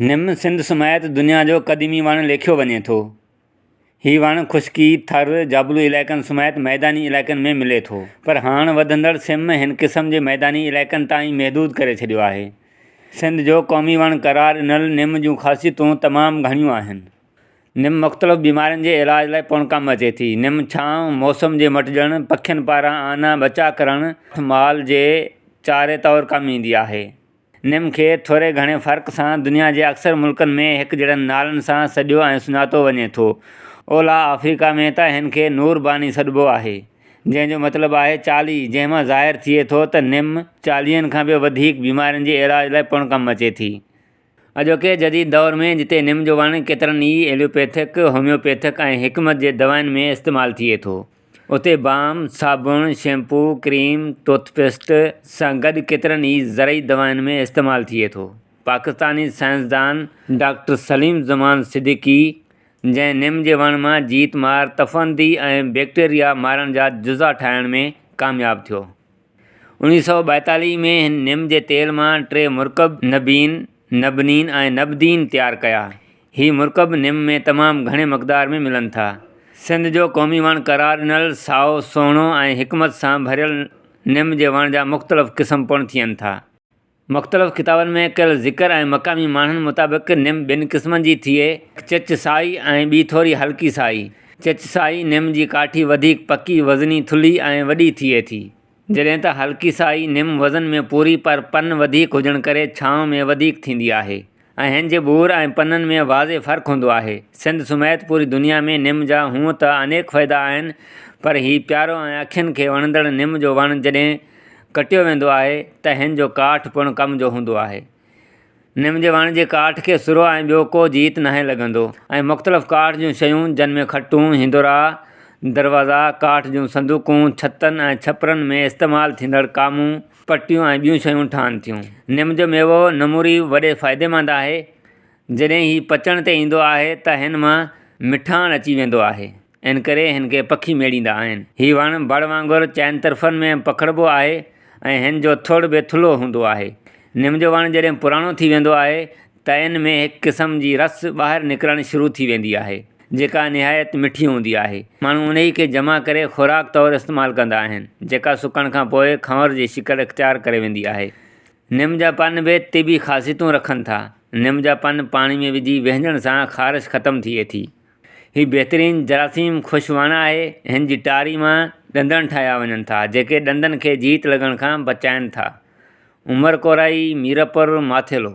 نم سنڌ سميت دنيا جو قديمي وڻ ليکيو وڃي ٿو. هي وڻ خشڪي، ٿر، جابلو علائقن سميت ميداني علائقن ۾ ملي ٿو. پر هاڻ وڌندڙ سم هن قسم جي ميداني علائقن تائين محدود ڪري ڇڏيو آهي. سنڌ جو قومي وڻ قرار ڏنل نم جون خاصيتون تمام گهڻيون آهن. نم مختلف بيمارين جي علاج لاء پڻ ڪم اچي ٿي. نم ڇانو، موسم جي مٽجڻ، پکين پاران آنا بچاء ڪرڻ، مال جي چاري طور ڪم ايندي آهي. نيم کي ٿوري گهڻي فرق سان دنيا جي اڪثر ملڪن ۾ هڪجهڙن نالن سان سڏيو ۽ سڃاتو وڃي ٿو. اولهه آفريڪا ۾ ته هن کي نور باني سڏبو آهي، جنهن جو مطلب آهي چالي، جنهن مان ظاهر ٿئي ٿو ته نيم چاليهن کان به وڌيڪ بيمارين جي علاج لاء پڻ ڪم اچي ٿي. اڄوڪي جديد دور ۾ جتي نيم جو وڻ ڪيترن ئي ايلوپيٿڪ، هوميوپيٿڪ ۽ حڪمت جي دوائن ۾ استعمال ٿئي ٿو. اتي بام، صابڻ، شيمپو، ڪريم، ٽوٿ پيسٽ سان گڏ ڪيترن ئي زرعي دوائن ۾ استعمال ٿئي ٿو. پاڪستاني سائنسدان ڊاڪٽر سليم زمان صديقي جنهن نم جي وڻ مان جيت مار تفندي ۽ بيڪٽيريا مارڻ جا جزا ٺاهڻ ۾ ڪامياب ٿيو، اوڻيھ سؤ ٻائيتاليھ ۾ هن نم جي تيل مان ٽي مرڪب نبين، نبنين ۽ نبدين تيار ڪيا. هي مرڪب نم ۾ تمام گهڻي مقدار ۾ ملن ٿا. سنڌ جو قومي وڻ قرار ڏنل سائو، سهڻو ۽ حڪمت سان ڀريل نم جي وڻ جا مختلف قسم پڻ ٿين ٿا. مختلف ڪتابن ۾ ڪيل ذڪر ۽ مقامي ماڻهن مطابق نم ٻن قسمن جي ٿئي، هڪ چچ سائي ۽ ٻي ٿوري هلڪي سائي. چچ سائي نم جي ڪاٺي وڌيڪ پڪي، وزني، ٿلهي ۽ وڏي ٿئي ٿي. جڏهن ته هلڪي سائي نم وزن ۾ پوري پر پن وڌيڪ هجڻ ڪري ڇانو ۾ وڌيڪ ٿيندي آهي. ۽ هن جي ٻور ۽ پنن ۾ واضح فرق هوندو آهي. سنڌ سميت پوري دنيا ۾ نم جا هونء ته انيڪ فائدا آهن پر هي پيارو ۽ اکين کي وڻندڙ نم جو وڻ جڏهن ڪٽيو ويندو آهي ته هن جو ڪاٺ پڻ ڪم جو هوندو آهي. نم جي وڻ جي ڪاٺ کي سرو ۽ ٻيو ڪو جيت ناهي لڳندو ۽ مختلف ڪاٺ جون شيون جن ۾ کٽون، هندورا، دروازا، ڪاٺ جون صندوقون، ڇتن ۽ ڇپرن ۾ استعمال ٿيندڙ ڪامون، پٽيون ۽ ٻيون شيون ٺهن ٿيون. نم جو ميوو نموري وڏي فائديمند آهي. جڏهن هي پچڻ تي ايندو آهي ته هن مان مٺاڻ اچي ويندو آهي. ان ڪري هن کي پکي ميڙيندا آهن. هي وڻ بڙ وانگر چئن طرفن ۾ پکڙبو آهي ۽ هن جو ٿڙ به ٿلهو هوندو آهي. نم جو وڻ جڏهن پراڻو ٿي ويندو آهي تئن ۾ هڪ قسم جي رس ٻاهر نڪرڻ شروع ٿي ويندي آهي، جيڪا نهايت مٺي هوندي آهي. ماڻهو انهيء کي جمع ڪري خوراڪ طور استعمال ڪندا آهن، جيڪا سڪڻ کان پوء کنور جي شڪل اختيار ڪري ويندي آهي. نم جا پن به طبي خاصيتون رکن ٿا. نم جا پن پاڻي ۾ وجهي وهنجڻ سان خارش ختم ٿئي ٿي. هي بهترين جراثيم ڪش وڻ آهي. هن جي ٽاري مان ڏندڻ ٺاهيا وڃن ٿا، جيڪي ڏندن کي جيت لڳڻ کان بچائين ٿا. عمر ڪورائي، ميرپور، ماٿيلو.